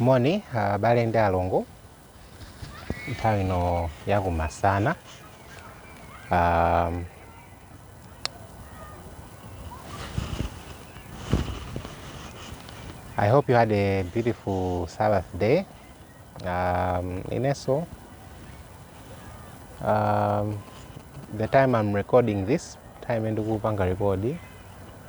moni abale ndi alongo nthawi ino yakumasana um, i hope you had a beautiful sabbath day um, inenso um, the time i'm recording this time ndikupanga rekodi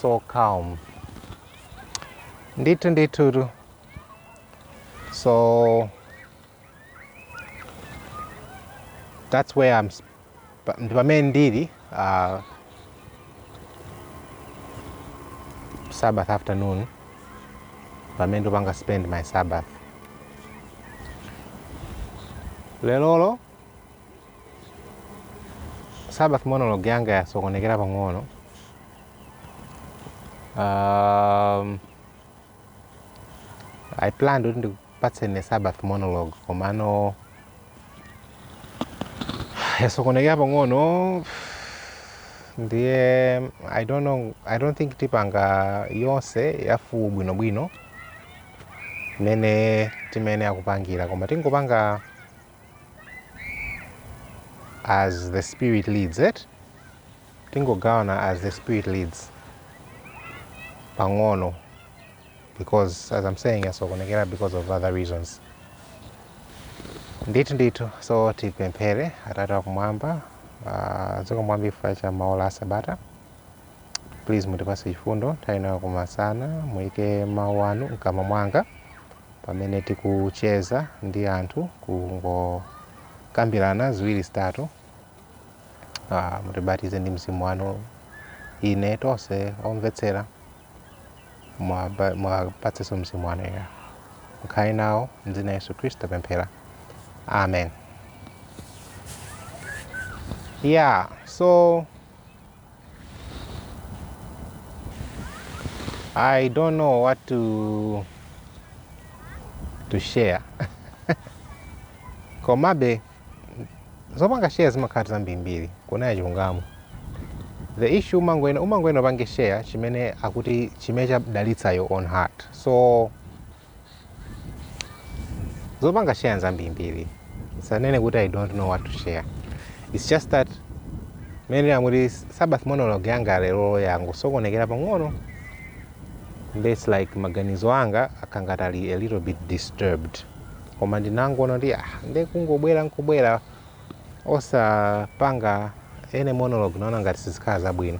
so calm ndithu ndithutu so that's where I'm sp- pa- ndi pamene ndili uh, sabbath afternoon pamene ndipanga spend my sabbath lelolo Sabbath monologue yanga yasokonekera pang'ono. Um, I planned kuti ndikupatseni Sabbath monologue komano yasokonekera pang'ono ndiye I don't know, I don't think tipanga yonse ya full bwinobwino mmene timene akupangira koma tingopanga as the spirit leads it tingogawana as the spirit leads pang'ono because as i'm saying yasokonekera because of other reasons ndithu ndithu so tipemphere atate wakumwamba uh, zikomo kwambiri chifukwa cha maola asabata please mutipase chifundo nthawi ino yakumasana muyike mawu anu mkamwa mwanga pamene tikucheza ndi anthu kungokambirana ziwiri zitatu ah, mutibatize ndi mzimu wanu ine tonse omvetsera mwaba- mwapatsenso mzimu wanu oyera mukhale nawo mdzina la yesu khristu tapemphera amen yeah so I don't know what to, to share. Komabe, zopanga share zimakhala zambirimbiri kunena chilungamo. The issue umangwena umangwena upange share chimene akuti chimene chadalitsa your own heart. So zopanga share nzambirimbiri sindinene kuti i don't know what to share its just that mmene ndimati sabbath monologue yanga lero yangosokonekera pang'ono nde its like maganizo anga akangali a little bit disturbed koma ndinangoona kuti ah, nde kungobwera nkubwera osapanga any monologue naona ngati sizikhala zabwino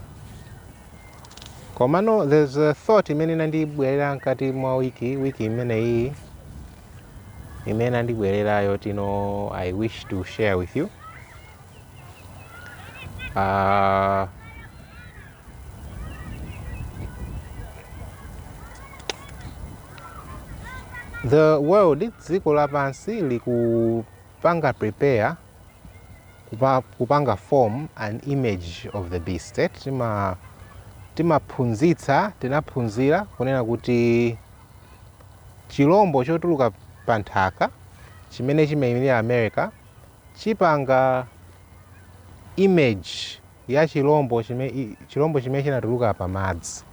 Komano there's a thought imene inandibwerera mkati mwa wiki wiki imene iyi imene inandibwerera yoti no I wish to share with you. Uh, the world dziko lapansi likupanga prepare kupa, kupanga form an image of the beast eh? timaphunzitsa tinaphunzira kunena kuti chilombo chotuluka pa nthaka chimene chimayimirira america chipanga image ya chilombo chi, chilombo chimene chinatuluka pa madzi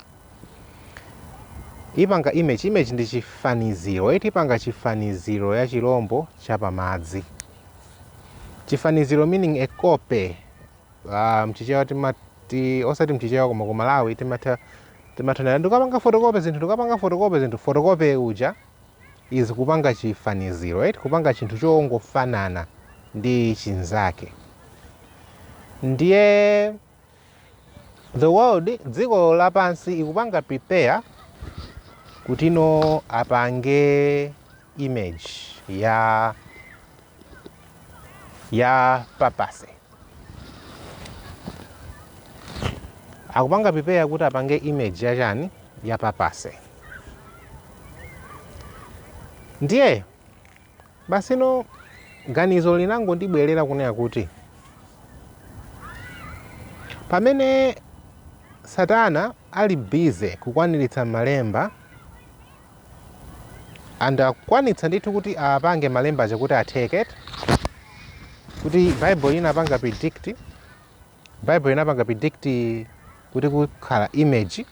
ipanga image image ndi chifaniziro ipanga chifaniziro cha chilombo cha pamadzi chifaniziro meaning a copy uh, mchichewa timati osati mchichewa koma ku malawi timati no ndikapanga fotokope zinthu ndikapanga fotokope zinthu fotokope uja is kupanga chifaniziro right? kupanga chinthu chongofanana ndi chinzake ndiye The world dziko lapansi ikupanga prepare kuti no apange image ya ya papacy akupanga prepare kuti apange image ya chani ya papacy ndiye Basi no ganizo linangondibwerera kunena kuti pamene Satana ali busy kukwaniritsa malemba and akwanitsa ndithu kuti apange malemba aja kuti atheke kuti Bible inapanga predict Baibulo inapanga predict kuti kukhala image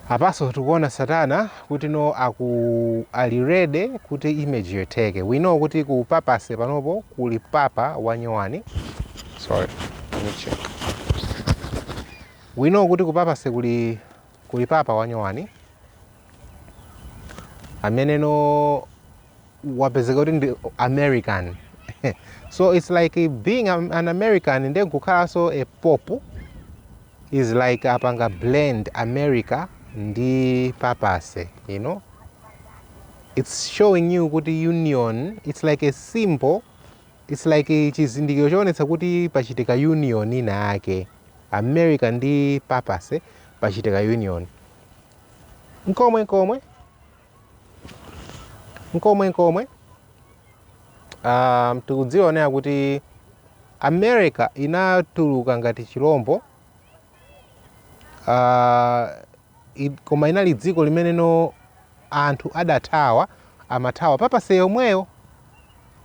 ya papacy tikuona satana kuti no aku ali ready kuti image yo itheke we know kuti ku papacy panopo kuli papa wanyowani sorry let me check we know kuti ku papacy kuli Kuli papa wanyowani amene no wapezeka kuti ndi american so it's like being am- an american nde nkukhalanso a pope is like apanga blend america ndi papacy you know it's showing you kuti union it's like a symbol it's like chizindikiro choonetsa kuti pachitika union ina yake America ndi Papacy pachitika union. Mkomwe mkomwe. Mkomwe mkomwe. Um, tikudzionera kuti America inatuluka ngati chilombo uh, I, koma inali dziko limeneno anthu adathawa amathawa papacy yomweyo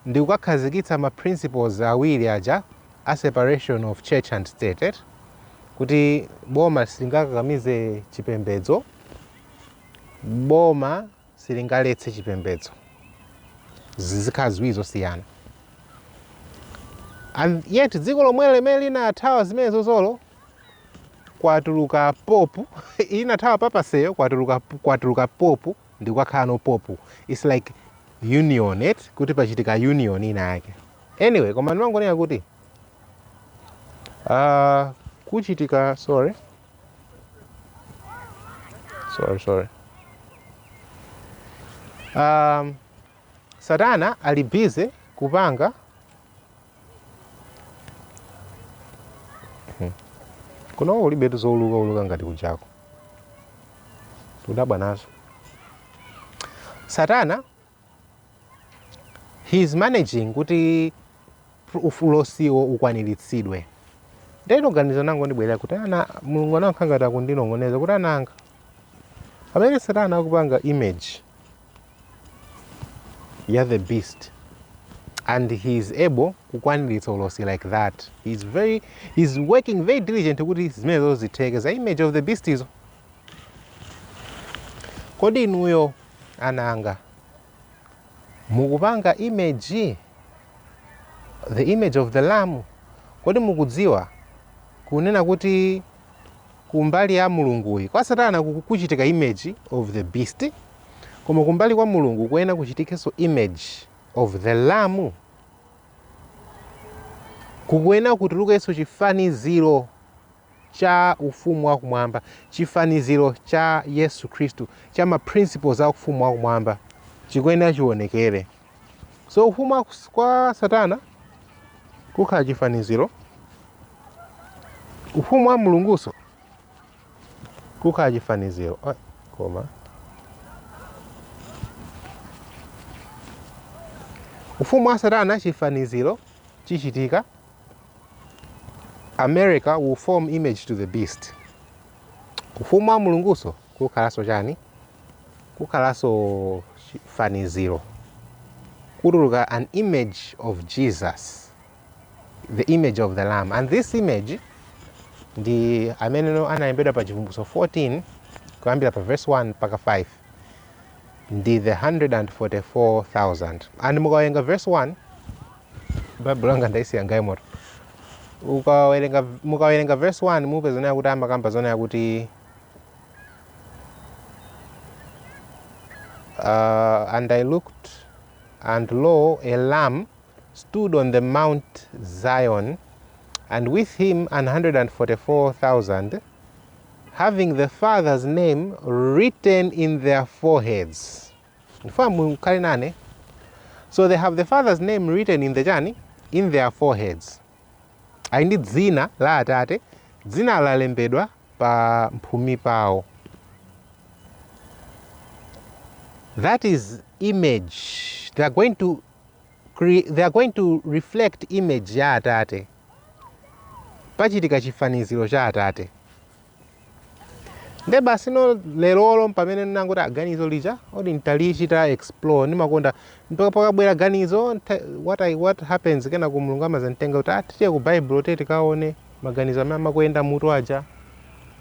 ndi kukakhazikitsa ma principles awiri aja a separation of church and state eti kuti boma silingakakamize chipembedzo boma silingaletse chipembedzo. Zizikhala ziwiri zosiyana. And yet dziko lomwelo limene linathawa zimenezozolo kwatuluka popu inathawa papacy-yo kwatuluka, kwatuluka popu ndi kukakhalano popu it's like union eti kuti pachitika union ina yake anyway koma ndimangonena kuti uh, kuchitika sorry sorry, I'm sorry. Um, satana ali busy kupanga Hmm. kunoko kulibetu zouluka uluka ngati kunjako tikudabwa nazo satana he is managing kuti ulosiwo ukwaniritsidwe ndeno ganizo linangondibwerera kuti ana mulungu anakhala ngati akundinong'oneza kuti ana anga pamene satana akupanga image ya the beast and he is able kukwaniritsa ulosi like that he is very he is working very diligent kuti zimenezo zitheke za image of the beast izo Kodi inuyo ana anga mukupanga image, the image of the lamb? Kodi mukudziwa kunena kuti kumbali ya Mulunguyi kwa satana kukuchitika image of the beast, koma kumbali kwa Mulungu kuyenera kuchitikenso image of the lamb? Kukuyenera kutulukenso chifaniziro cha Ufumu wa Kumwamba, chifaniziro cha Yesu Khristu, cha ma principles a Ufumu wa Kumwamba, chikuyenera chionekere. So ufumu wa kus- kwa Satana kukhala chifaniziro, ufumu wa Mulungunso kukhala chifaniziro. Ah, Koma ufumu wa Satana chifaniziro chichitika America will form image to the beast. Ufumu wa Mulungunso kukhalanso chani? Kukhalanso chifaniziro kutuluka an image of Jesus, the image of the lamb and this image ndi ameneno analembedwa pa Chivumbulutso 14 kuyambira pa verse 1 mpaka 5 ndi the 144,000 and mukawerenga verse 1 baibulo langa ndaisiya mgalimoto mukawerenga verse 1 mupeza zonena kuti amakamba zonena kuti uh, and i looked and lo a lamb stood on the mount zion and with him 144000 having the father's name written in their foreheads ndifuna mukhale nane so they have the father's name written in the chani in their foreheads ali ndi dzina la atate dzina lalembedwa pa mphumi pawo that is image they are going to reflect image ya atate pachitika chifaniziro cha atate nde basino lerolo mpamene ndinangoti aganizo lija oti ntalichita explore ndimakonda mpaka pakabwera ganizo nta- what, I, what happens kenako mulungu amazanditenga kuti ah, tiye ku bible tiye tikaone maganizo amene amakuyenda mmutu aja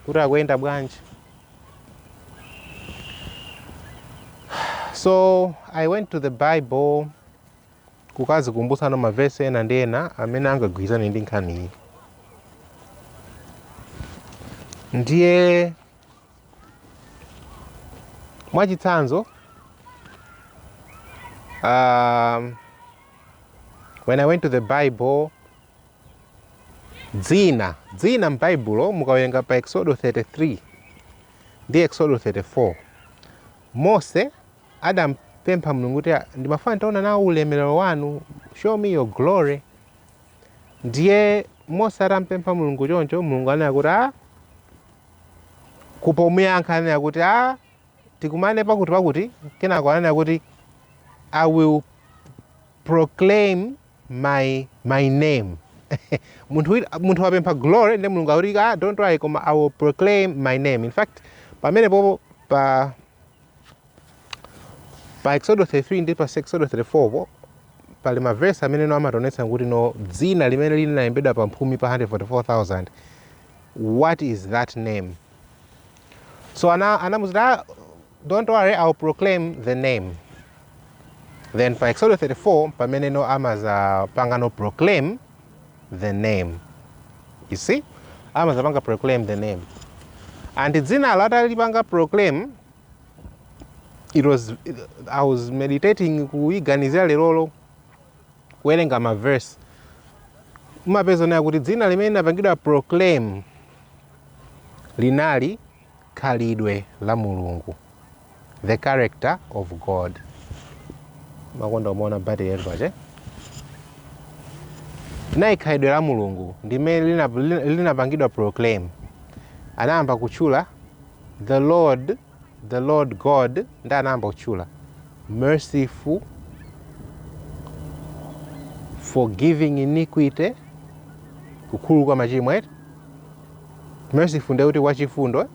kuti akuyenda bwanji so i went to the bible kukadzikumbutsa mavesi ena ndi ena amene angagwirizane ndi nkhaniyi ndiye mwachitsanzo um, when i went to the bible dzina dzina m'baibulo mukawerenga pa exodo 33 ndi exodo 34 mose Adampempha Mulungu kuti, Ndimafuna nditaona nawo ulemerero wanu, show me your glory. Ndiye Mose atampempha Mulungu choncho, Mulungu ananena kuti a pomuyankha ananena kuti a tikumane pakuti pakuti, kenako ananena kuti I will proclaim my name munthu wapempha glory nde mulungu akuti ah don't worry koma i will proclaim my name in fact pamenepopo pa Pa Eksodo 33 ndi pa Eksodo 34 po pali mavesi ameneno amationetsa kuti no dzina limene linalembedwa pa mphumi pa 144,000 what is that name so anamuuza kuti "Ah, don't worry i'll proclaim the name then pa Eksodo 34 pameneno amazapangano proclaim the name you see amazapanga proclaim the name and dzina lo atalipanga proclaim I was meditating kuiganizira lerolo kuwerenga maverse mumapeza nayo kuti dzina limene linapangidwa proclaim linali Khalidwe la Mulungu, The character of God. Makonda umaona battery yathu pache. Nayo khalidwe la Mulungu ndimene linapangidwa proclaim. Anayamba kutchula the Lord God ndi anayamba kutchula merciful, forgiving iniquity, kukhululuka machimo eti merciful ndiye kuti wachifundo uh,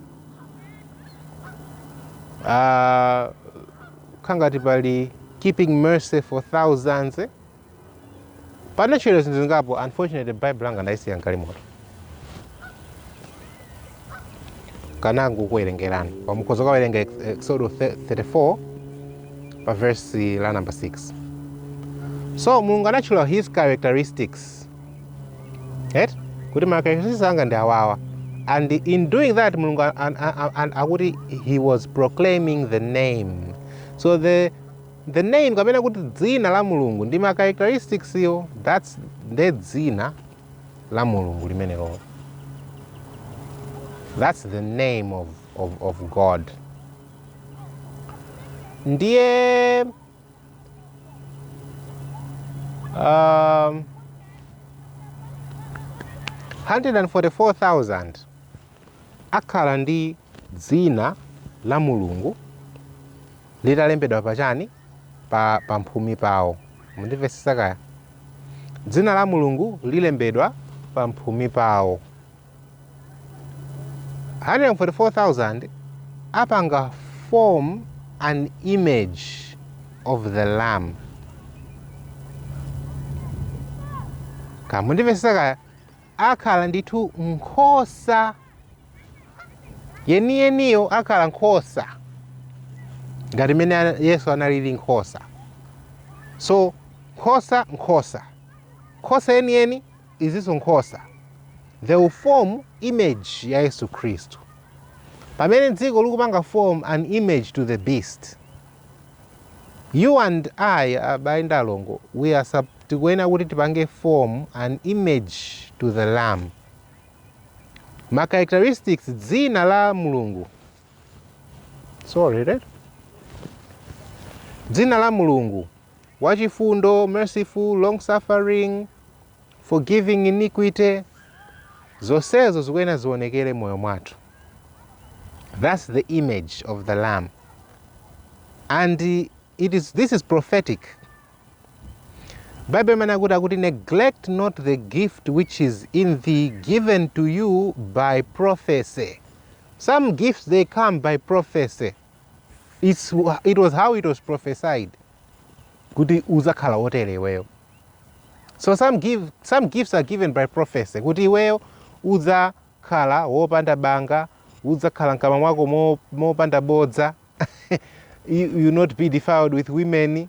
ah, kangati pali keeping mercy for thousands eh? anatchula zinthu zingapo unfortunately bible langa ndayisiya mgalimoto nkanakuwerengerani koma mukhoza kawerenga exodo 34 pa verse la number 6 so mulungu anatchula his characteristics eti kuti ma characteristics anga ndi awawa and in doing that mulungu a- a- a- a- akuti he was proclaiming the name so the the name kapena kuti dzina la mulungu ndi ma characteristics yo that's nde dzina la mulungu limenelolo that's the name of, of, of god ndiye Um, 144,000 akhala ndi dzina la mulungu litalembedwa pachani pa pamphumi pawo mundimvetsetsa kaya dzina la mulungu lilembedwa pamphumi pawo 144,000 apanga form an image of the lamb mundimvetsetsa kaya akhala ndithu nkhosa yeniyeniyo akhala nkhosa ngati mmene ana- yesu analili nkhosa ndi nkhosa nkhosa nkhosa yeniyeni Izizonso nkhosa, they will form image ya Yesu Khristu. Pamene dziko likupanga form an image to the beast. You and I, abale ndi alongo, we are tikuyenera kuti tipange form an image to the lamb. Ma characteristics dzina la Mulungu. Sorry, right? Dzina la Mulungu Wachifundo, merciful, long-suffering, forgiving iniquity, zonsezo zikuyenera ziwonekere m'moyo mwathu. Thats the image of the lamb and it is, this is prophetic. Bible imanena kuti akuti neglect not the gift which is in thee given to you by prophecy. Some gifts they come by prophecy. It's, it was how it was prophesied kuti uzakhala wotere iweyo so some, give, some gifts are given by prophecy kuti iweyo uzakhala wopanda banga uzakhala mkamwa mwako mo- mopanda bodza you, you not be defiled with women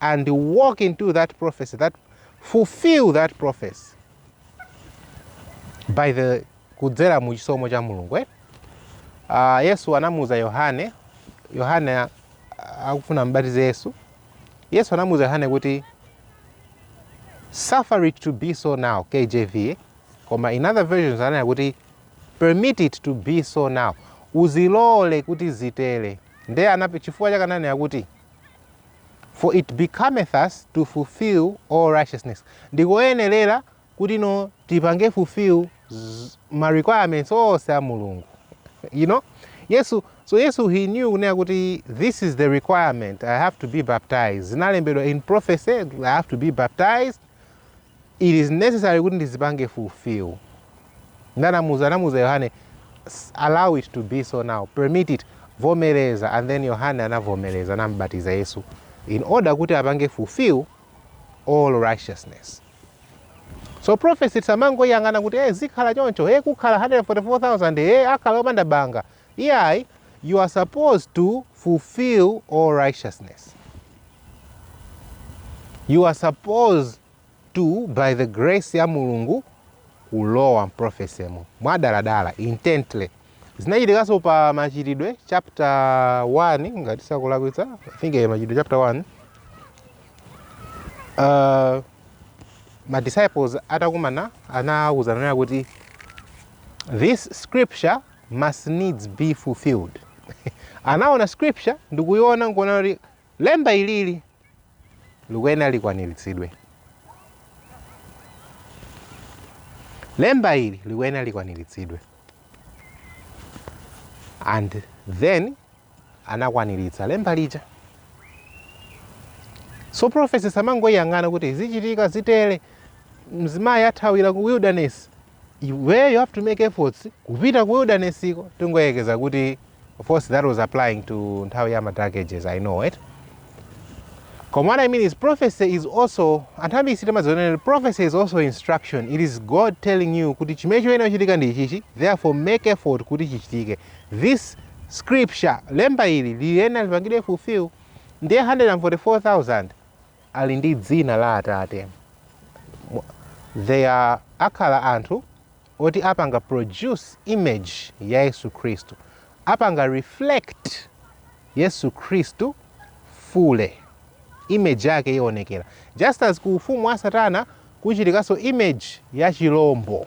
and walk into that prophecy, that fulfill that prophecy by the kudzera mu chisomo cha mulungu eh? uh, yesu anamuuza yohane yohane ah, akufuna ambatize yesu yesu anamuuza yohane kuti suffer it to be so now kjv eh? koma in other versions ananena kuti permit it to be so now uzilole kuti zitere nde chifukwa chakananena kuti For it becometh us to fulfill all righteousness. Ndikoyenerera kuti no tipange fulfill ma requirements onse a Mulungu. You know? Yesu, so Yesu he knew kunena kuti this is the requirement. I have to be baptized. Zinalembedwa in prophecy, I have to be baptized. It is necessary kuti ndizipange fulfill. Ndi anamuza, anamuza Yohane, "S- allow it to be so now, permit it, vomereza. And then Yohane anavomereza, anambatiza Yesu in order kuti apange fulfill all righteousness. So prophecy tisamangoiyang'ana kuti eh zikhala choncho, eh kukhala 144,000, eh akhala opanda banga. Iyayi, you are supposed to fulfill all righteousness. You are supposed to, by the grace ya Mulungu, kulowa m'prophecy imo mwadaladala intently zinachitikanso pa machitidwe chapter 1 ngati sindikulakwitsa i think eh, machitidwe chapter 1 uh, ma disciples atakumana anawuzana kunena kuti this scripture must needs be fulfilled anaona scripture ndikuiona nkuona kuti lemba ilili likuyenera likwaniritsidwe lemba ili likuyenera likwaniritsidwe and then anakwaniritsa lemba lija so prophecy tisamangoiyang'ana kuti zichitika zitere mzimayi athawira ku wilderness iweyo you have to make efforts kupita ku wildernesiko tingoyerekeza kuti of course that was applying to nthawi ya madark ages i know it koma what i mean is prophecy is also anthu ambiri sitimaziona prophecy is also instruction it is god telling you kuti chimene choyenera kuchitika ndi ichichi therefore make effort kuti chichitike this scripture lemba ili likuyenera lipangidwe fulfill ndiye 144000 ali ndi dzina la Atate. Mu, they are, akhala anthu oti apanga produce image ya Yesu Khristu, apanga reflect Yesu Khristu fully, image yake ionekera. Just as ku ufumu wa Satana kuchitikanso image ya chilombo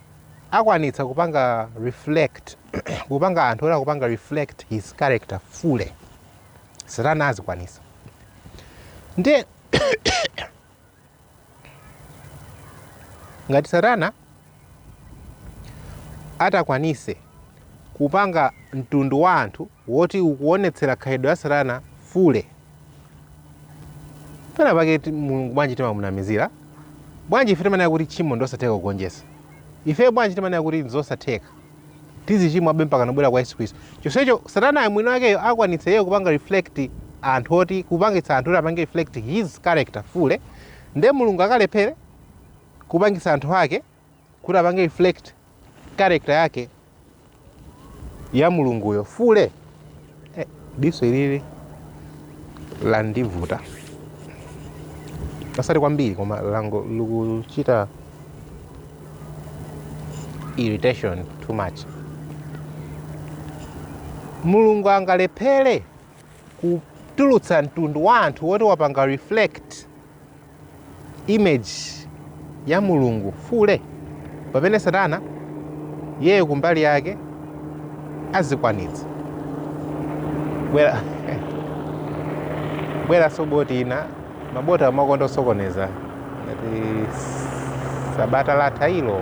akwanitsa kupanga reflect kupanga anthu oti akupanga reflect his character fule satana azikwanisa nde ngati satana atakwanise kupanga mtundu wa anthu woti ukuonetsera khalidwe ya satana fule pena pake ti- mulungu bwanji timamunamizira bwanji ife timanena kuti tchimo ndiosatheka kugonjetsa ife bwanji timanena kuti nzosatheka tizichimwabe mpakana kubwera kwa yesu khristu chonsecho satana mwini wakeyo akwanitsa iyeyo kupanga reflect anthu oti kupangitsa anthu oti apange reflect his character fule nde mulungu akalephere kupangitsa anthu ake kuti apange reflect character yake ya mulunguyo fule eh, diso ilili landivuta osati kwambiri koma langa likuchita irritation too much mulungu angalephere kutulutsa mtundu wa anthu woti wapanga reflect image ya mulungu fule pamene satana iyeyo kumbali yake azikwanitsa bwera bwera Sabata lina ma bot amakonda kusokoneza ngati sabata latha ilo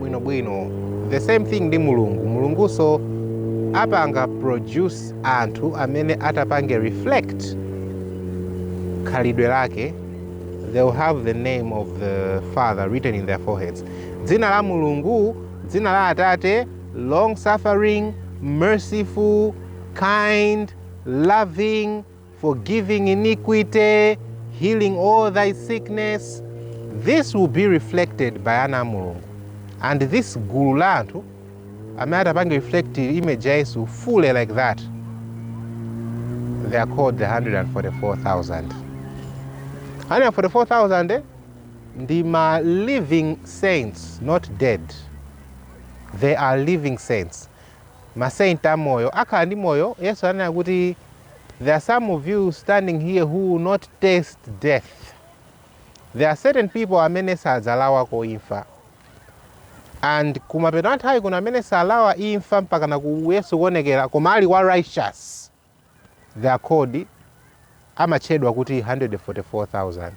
bwinobwino the same thing ndi mulungu mulungunso apanga produce anthu amene atapange reflect khalidwe lake they will have the name of the father written in their foreheads dzina la mulungu dzina la atate long suffering merciful kind loving forgiving iniquity, healing all thy sickness. This will be reflected by ana a Mulungu. And this gulu la anthu amene atapanga reflect image ya Yesu fully like that. They are called the 144,000. 144,000 eh? ndi ma living saints not dead they are living saints ma saint amoyo akhala ndi moyo yesu ananena kuti there are some of you standing here who will not taste death there are certain people amene sadzalawako imfa and kumapeto a nthawi kuna amene salawa imfa mpakana ku yesu kuonekera koma ali wa righteous They are called amatchedwa kuti 144,000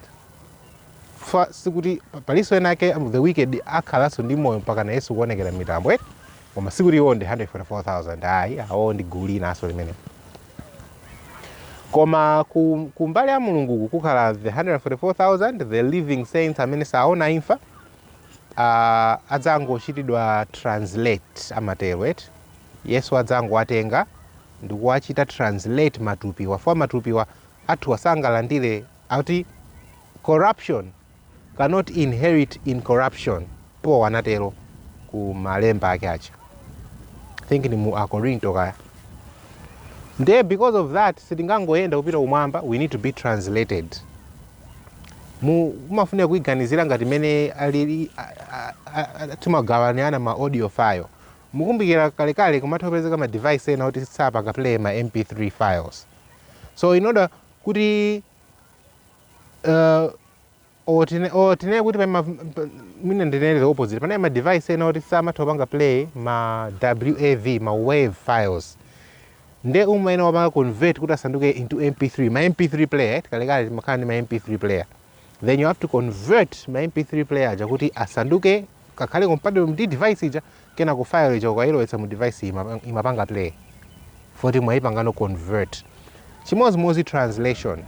sikuti pa- palinso ena ake um, the wicked akhalanso ndi moyo mpakana yesu kuonekera mmitambo eti koma sikuti iwo ndi 144,000 ayi awo ndi gulu linanso limene koma ku, ku mbali ya mulunguku kukhala the 144,000 the living saints amene saona imfa uh, adzangochitidwa translate amatero eti Yesu adzangowatenga ndikuwachita translate matupiwa fukwa matupiwa athu sangalandire akuti corruption cannot inherit incorruption paul anatero ku malemba ake aja i think ndi mu akorinto kaya nde because of that sitingangoyenda kupita kumwamba we need to be translated mu mumafunika kuiganizira ngati mene alili a- a- a- a- timagawaniana ma audio file Mukumbukira kalekale kumatha kupezeka ma device ena oti sapanga play ma mp3 files so in order kuti uh, or tine- or tinene kuti pali ma- pa- mwina ndinene the opposite panali ma device ena oti samatha kupanga play ma wav ma wave files nde umayenera kupanga convert kuti asanduke into mp3 ma mp3 player right? kalekale timakhala ndi ma mp3 player then you have to convert ma mp3 player aja kuti asanduke kakhale compatible ndi device ija kenako file ija ukayilowetsa mu device iyi ima- imapanga play poti mwayipangano convert chimodzimodzi translation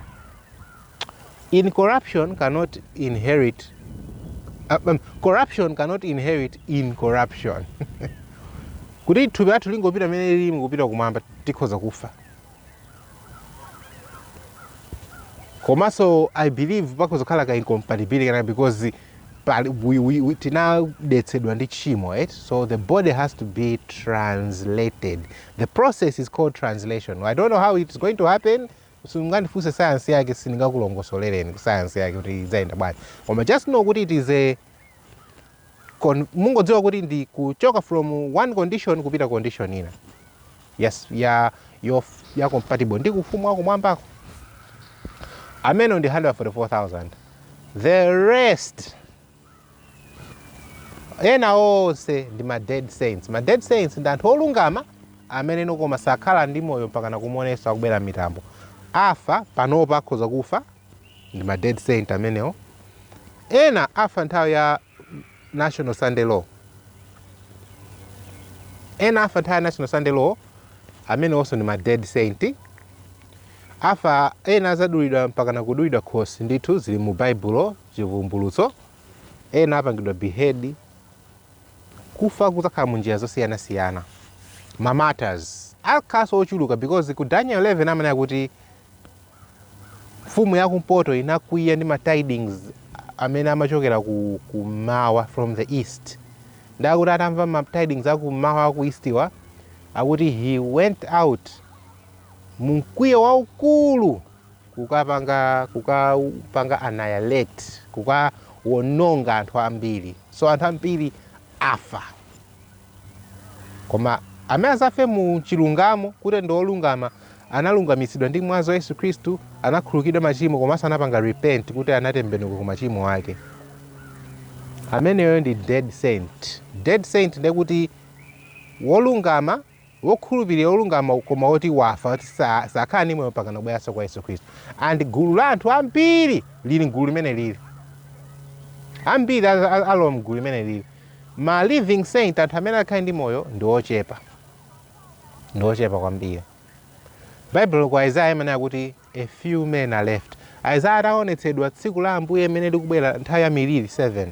incorruption cannot inherit uh, um, corruption cannot inherit incorruption kuti thupi lathu lingopita mmene lilimu kupita kumwamba tikhoza kufa komanso i believe pakhoza kukhala ka incompatibility kena because pali- we- we- we- tinadetsedwa ndi tchimo right so the body has to be translated the process is called translation i don't know how it's going to happen sungandifunse sayansi yake sindingakulongosolereni sayansi yake kuti idzayenda bwanji koma just know kuti it is a Koma mungodziwa kuti ndi kuchoka from one condition kupita condition ina yes, ya, yo, ya compatible ndi kufumu wa kumwambako amenewo ndi 144,000 the rest ena onse ndi ma dead saints ma dead saints ndi anthu olungama amene nokoma sakhala ndi moyo mpaka nakumuona Yesu akubwera m'mitambo afa panopa akhoza kufa ndi ma dead saint amenewo ena afa nthawi ya national sunday law ena afa nthawi ya national sunday law amenewonso ndi ma dead saint afa ena azadulidwa mpaka nakudulidwa khosi ndithu zili mu baibulo chivumbulutso ena apangidwa behead kufa kuzakhala mu njira zosiyanasiyana ma martyrs akhalanso ochuluka because ku daniel 11 amanena kuti mfumu ya kumpoto inakwiya ndi ma tidings amene amachokera ku kummawa from the east nde akuti atamva ma tidings akummawa aku eastiwa akuti he went out mumkwiyo waukulu kukapanga kukapanga annihilate kukawononga anthu ambiri so anthu ambiri afa. Koma amene azafe mu chilungamo, kuti ndi olungama, analungamitsidwa ndi mwazi wa Yesu Khristu, anakhululukidwa machimo komanso anapanga repent kuti anatembenuka ku machimo ake. Ameneyo ndi dead saint. Dead saint ndiye kuti wolungama wokhulupirira wolungama koma woti wafa kuti sa- sakhala ndi moyo mpakana kubweranso kwa yesu khristu and gulu la anthu ambiri lili mgulu limeneli ambiri a- a- alowa mgulu limeneli ma living saint anthu amene akhale ndi moyo ndi ochepa ndi ochepa kwambiri baibulo kwa isaya imanena kuti A few men are left. Isaiah ataonetsedwa tsiku la Ambuye mmene likubwera nthawi ya miliri 7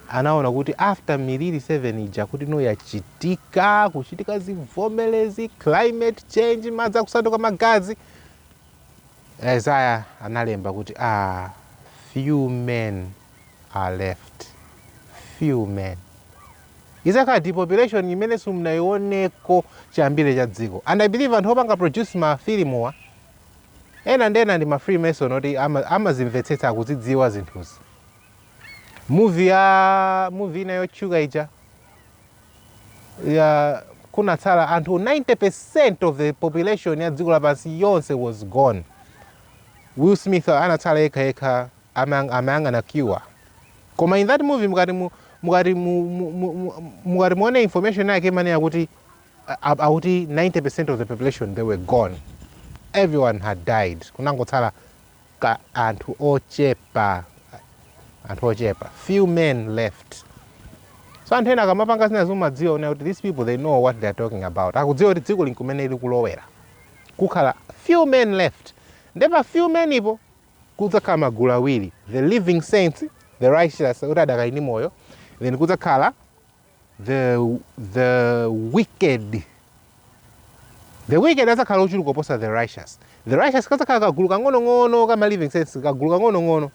anaona kuti after miliri 7 ija ikati ino yachitika kuchitika zivomelezi climate change madzi akusanduka magazi Isaiah analemba kuti ah, few men are left few men Idzakhala depopulation imene simunaioneko chiyambire cha dziko. And I believe anthu opanga produce ma filimuwa, ena enanso ndi ma freemason oti ama- amazimvetsetsa akuzidziwa zinthuzi. Movie ya movie ina yotchuka ija ya kunatsala anthu 90% of the population ya dziko lapansi yonse was gone. Will Smith anatsala yekha yekha amang amayang'ana cure koma in that movie mukati mu, mukati mu, mu, mu, mu, mukati muone information yake imanena kuti a- a- akuti 90% of the population they were gone everyone had died kunangotsala ka anthu ochepa anthu ochepa few men left so anthu ena akamapanga zinazi umadziwa wona kuti these people they know what they are talking about akudziwa kuti dzikoli nkumene likulowera kukhala few men left nde pa few men-po kudzakhala magulu awiri, the living saints, the righteous, oti adakali ndi moyo, then kudzakhala the, the wicked. The wicked adzakhala ochuluka kuposa the righteous. The righteous kadzakhala kagulu kang'onong'ono kama living saints, kagulu kang'onong'ono.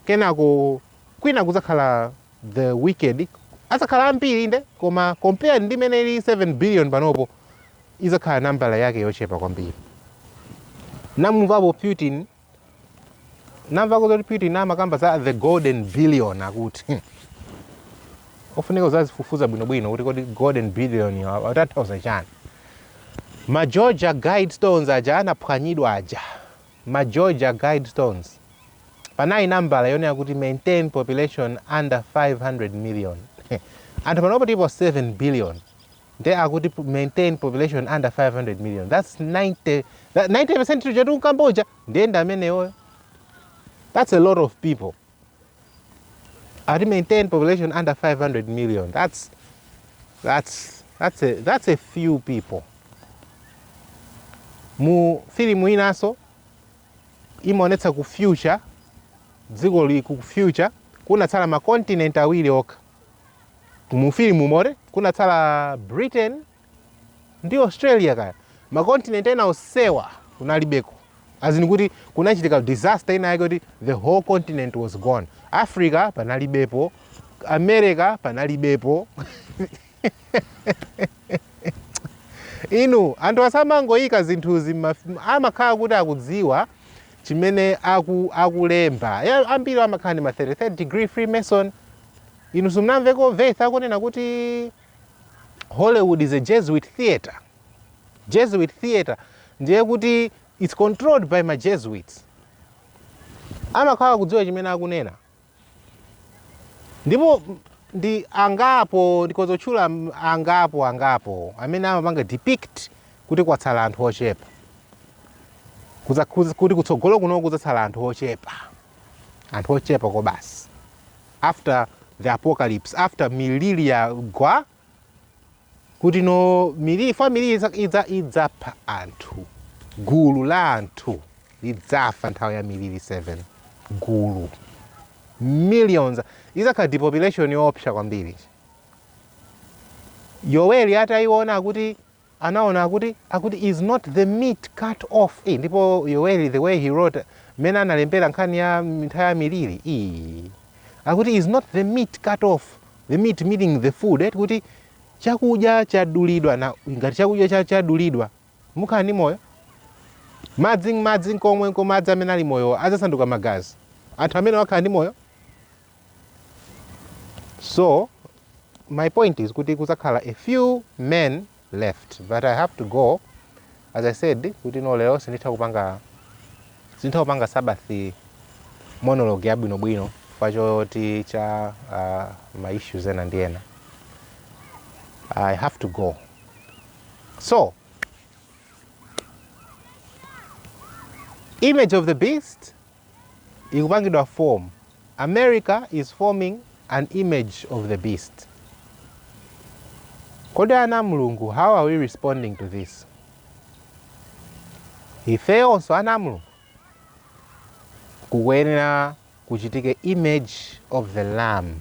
Kenako kwina kudzakhala the wicked adzakhala ambiri inde koma compare ndi mmene ilili 7 billion panopo idzakhala nambala yake yochepa kwambiri munamumvapo putin munamvako zoti putin amakamba za the golden billion akuti ofunika uzazifufuza bwinobwino kuti kodi golden billion atanthauza chani ma georgia guidestones aja anaphwanyidwa aja ma georgia guidestones panali nambala yonena kuti maintain population under 500 million anthu panopo tipo 7 billion nde akuti pu- maintain population under 500 million thats 90 percent tija tikukambayo ndiye ndi ameneyo that's a lot of people ati maintain population under 500 million that's that's that's a, that's a few people mu filimu inaso imaonetsa ku future dziko lili ku future kunatsala makontinent awiri okha mu filimu umo kunatsala britain ndi australia kaya makontinent ena onsewa kunalibeko as in kuti kunachitika disaster ina yake kuti the whole continent was gone africa panalibepo america panalibepo inu anthu asamangoyika zinthuzi m'maf- amakhala kuti akudziwa chimene aku akulemba. Eya, ambiri amakhala ndi ma 33rd degree Freemason. Inu simunamveko Veith akunena kuti Hollywood is a Jesuit theater. Jesuit theater ndiye kuti it's controlled by ma Jesuits. Amakhala akudziwa chimene akunena. Ndipo ndi angapo, ndikhoza kutchula angapo, angapo amene amapanga depict kuti kwatsala anthu ochepa, kuti kutsogolo kuno kudzatsala anthu ochepa, anthu ochepa okha basi, after the apocalypse, after miliri yagwa. kuti no miliri fa miliri idza- idza- idzapha anthu gulu la anthu lidzafa nthawi ya miliri 7 gulu millions idzakhala depopulation yoopsa kwambiri yoweli atayiona kuti anaona akuti akuti is not the meat cut off ii ndipo yoweli the way he wrote mmene analembera nkhani ya nthawi ya miliri ii akuti is not the meat cut off the meat meaning the food eti kuti chakudya chadulidwa na ngati chakudya cha- chadulidwa mukhala ndi moyo madzi madzi komweko madzi amene ali moyo adzasanduka magazi anthu amenewa akhala ndi moyo so my point is kuti kuzakhala a few men left but i have to go as i said kuti no lero sinditha kupanga sinditha kupanga sabbath monologue yabwinobwino chifukwa cha uh, ma issues ena ndi ena i have to go so image of the beast ikupangidwa form, America is forming an image of the beast. Kodi ana a Mulungu how are we responding to this? Ifeyonso ana a Mulungu kukuyenera kuti kuchitike image of the lamb.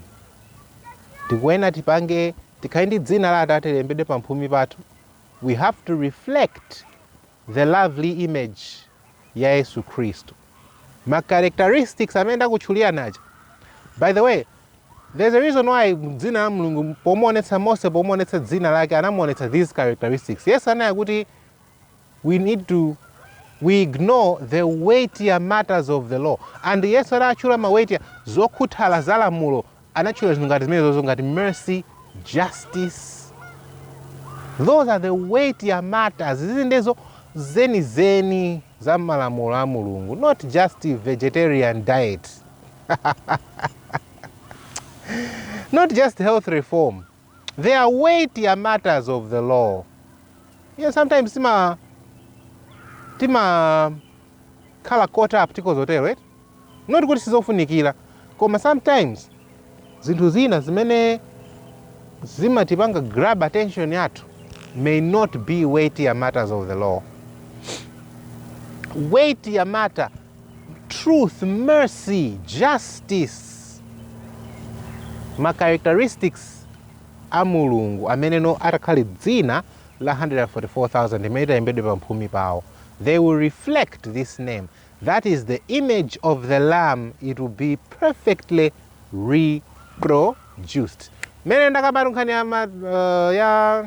Tikuyenera tipange tikhale ndi dzina la Atate lilembedwe pamphumi pathu. We have to reflect the lovely image ya Yesu Khristu. Ma characteristics amene ndakutchulirani aja. By the way, there's a reason why dzina la Mulungu pomuonetsa Mose pomuonetsa dzina lake anamuonetsa these characteristics. Yesu ananena kuti we ignore the weightier matters of the law and yesu anatchula ma weightier zokhuthala za lamulo anatchula zinthu ngati zimenezozo ngati mercy justice those are the weightier matters izi nde zo zenizeni za malamulo a mulungu not just vegetarian diet not just health reform they are weightier matters of the law you know, sometimes tima timakhala caught up ndi zinthu zotero eti not kuti sizofunikira koma sometimes zinthu zina zimene zimatipanga grab attention yathu may not be weightier matters of the law weightier matter truth mercy justice ma characteristics a mulungu ameneno atakhale dzina la 144000 imene italembedwe pamphumi pawo they will reflect this name That is the image of the lamb it will be perfectly reproduced mene ndakambatu nkhani ya, ma, uh, ya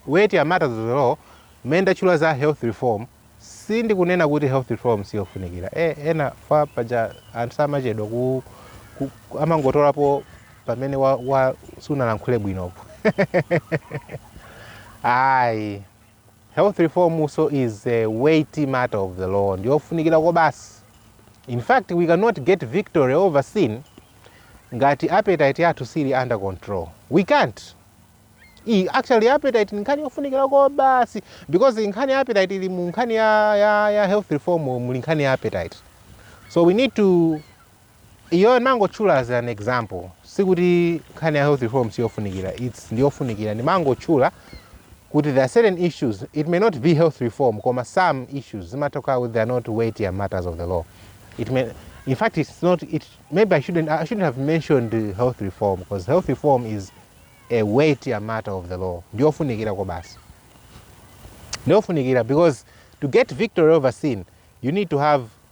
weightier matters of the law mene ndatchula za health reform sindikunena kuti health reform siyofunikira e, enafe paja anthu samachedwa ku, ku, ku- amangotolapo pamene wa, wa sunalankhule bwinopo ayi Health reform nso is a weighty matter of the law, ndiyofunikira kobasi. In fact, we cannot get victory over sin ngati appetite yathu siili under control. We can't. I, actually appetite ndi nkhani yofunikira kobasi because nkhani ya appetite ili mu nkhani ya, ya, ya health reform muli nkhani ya appetite. So we need to Iyo ndimangotchula as an example sikuti nkhani ya health reform siyofunikira its ndiyofunikira ndimangotchula kuti there are certain issues it may not be health reform koma some issues zimatha kukhala kuti they are not weightier matters of the law it may in fact it's not it maybe I shouldn't, I shouldn't have mentioned uh, health reform because health reform is a weightier matter of the law ndiyofunikira kobasi ndiyofunikira because to get victory over sin you need to have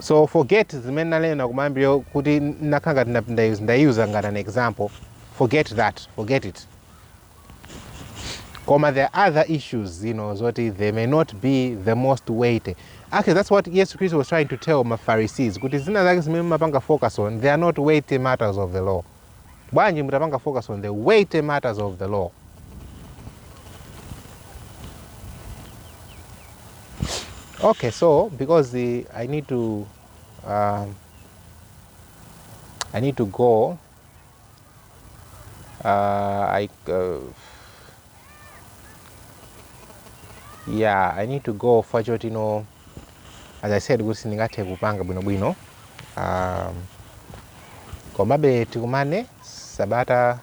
so forget zimene nanena kumayambiriro kuti nakhala ngati nda- ndayu- ndayuza ngati an example forget that forget it koma there are other issues you know zoti they may not be the most weighty actually that's what yesu christ was trying to tell mafarisees kuti zina zake zimene mumapanga focus on they are not weighty matters of the law bwanji mutapanga focus on the weighty matters of the law okay so because the, i need to um, i need to go uh, i uh, yeah i need to go fachotino as i said kuti sindingathe kupanga bwinobwino um, komabe tikumane sabata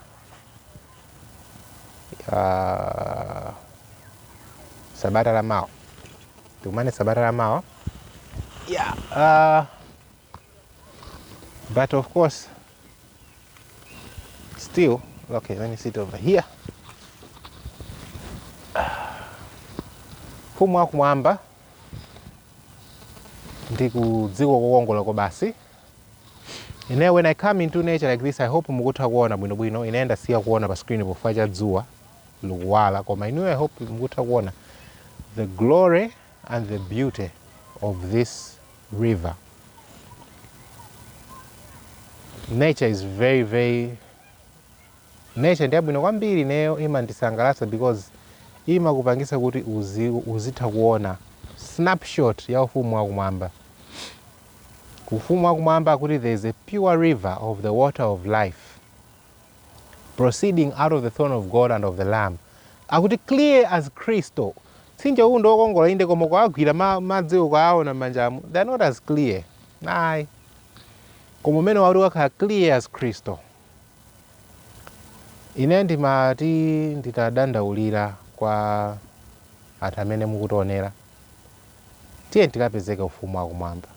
uh, sabata la mawa tikumane sabata la mawa yeah. uh, But of course, still, okay, let me sit over here. Ufumu wakumwamba ndi kudziko kokongola kwabasi. Ine when I come into nature like this, I hope mukutha kuona bwinobwino. Ine ndasiya kuona pa screen chifukwa cha dzuwa likuwala, koma inuyo I hope mukutha kuona the glory and the beauty of this river. Nature is very very nature ndi yabwino kwambiri ineyo imandisangalatsa because imakupangitsa kuti uzi, uzitha kuona snapshot ya ufumu wakumwamba ufumu wakumwamba kuti there is a pure river of the water of life proceeding out of the throne of God and of the Lamb akuti clear as crystal mtsinje uwu ndi wokongola inde koma ukawagwira ma- madzi ukawaona m'manjamu they are not as clear ayi koma umene uti udzakhale clear as crystal ine ndimati nditadandaulira kwa anthu amene mukutionera tiyeni tikapezeke mu ufumu wakumwamba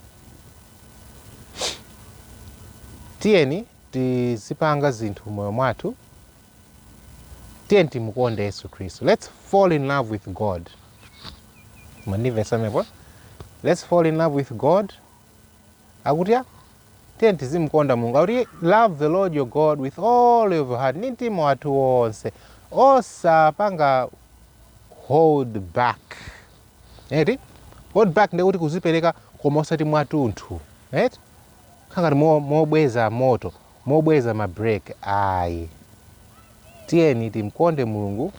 tiyeni tizipanga zinthu m'moyo mwathu, tiyeni timukonde Yesu Khristu. Let's fall in love with God. Mwandimvetsa pamenepo? Let's fall in love with God. Akuti ya, tiyeni tizimukonda Mulungu. Akuti love the Lord your God with all of your heart, ndi mtima wathu wonse. Osapanga hold back. Eti? Hold back ndekuti kuzipereka koma osati mwatunthu. Eti? Kukhala ngati mobweza moto, mobweza ma break ayi. Tiyeni timkonde Mulungu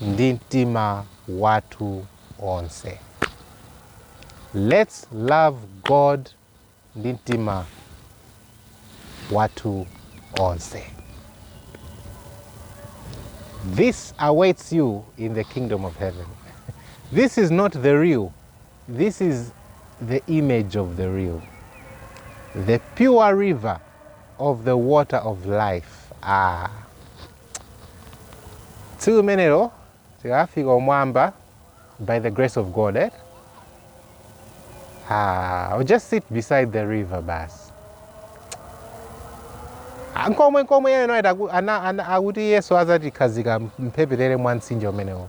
ndi mtima wathu onse. Let's love God ndi mtima wathu onse. This awaits you in the kingdom of heaven. This is not the real. This is the image of the real. The pure river of the water of life. Ah. Tsiku limenelo tikafika kumwamba by the grace of God. Eh? Ah, I'll just sit beside the river basi. Ah, Nkomwe nkomwe yeye naye taku- ana- ana- akuti Yesu azatikhazika mphepete mwa mtsinje umenewo.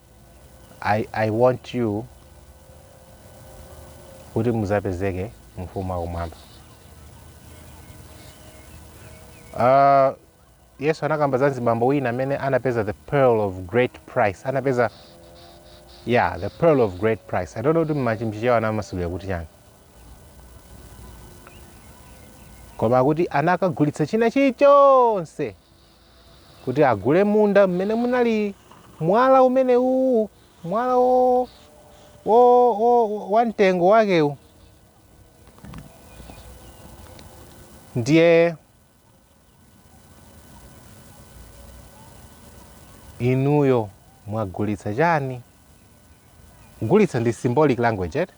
I, I want you kuti muzapezeke mu ufumu wakumwamba uh, yesu anakamba za nzibambo wina amene anapeza the pearl of great price anapeza yeah the pearl of great price i don't know kuti mma Chichewa anamasulira kuti chani koma kuti anakagulitsa china chilichonse kuti agule munda mmene munali mwala umene uwu mwala wo, wo, wo, wa mtengo wakewu ndiye inuyo mwagulitsa chani kugulitsa ndi symbolic language eti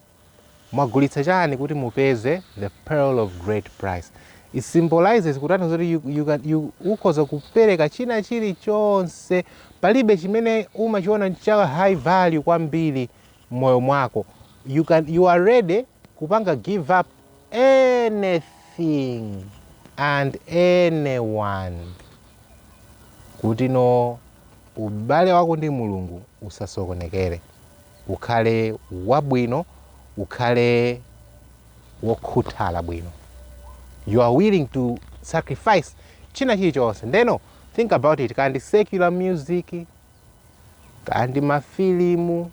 mwagulitsa chani kuti mupeze the pearl of great price it symbolizes kutanthauza kuti you, you can- you- ukhoza kupereka china chilichonse palibe chimene umachiona cha high value kwambiri mmoyo mwako you, can, you are ready kupanga give up anything and anyone kuti no ubale wako ndi mulungu usasokonekere ukhale wabwino, ukhale wokhuthala bwino. You are willing to sacrifice china chilichonse. Ndeno think about it, kaya ndi secular music, kaya ndi mafilimu,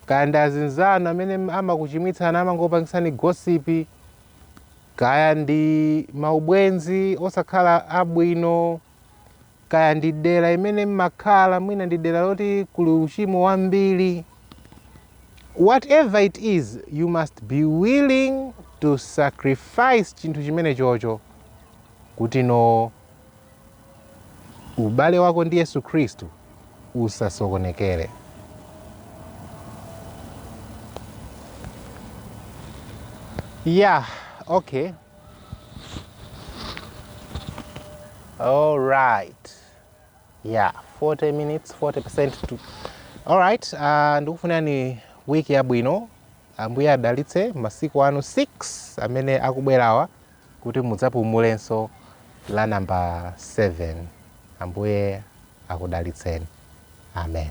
kaya ndi azinzanu amene amakuchimwitsani amangopangisani gossip, kaya ndi maubwenzi osakhala abwino Kaya ndi dera imene mmakhala, mwina ndi dera loti kuli uchimo wambiri, whatever it is, you must be willing to sacrifice chinthu chimenechocho kuti no ubale wako ndi Yesu Khristu usasokonekere. Yeah, okay. All right. Yeah, 40 minutes, 40% to. All right, uh, ndikufunirani wiki yabwino. Ambuye adalitse masiku anu 6 amene akubwerawa kuti mudzapumulenso la number 7. Ambuye akudalitseni. Amen.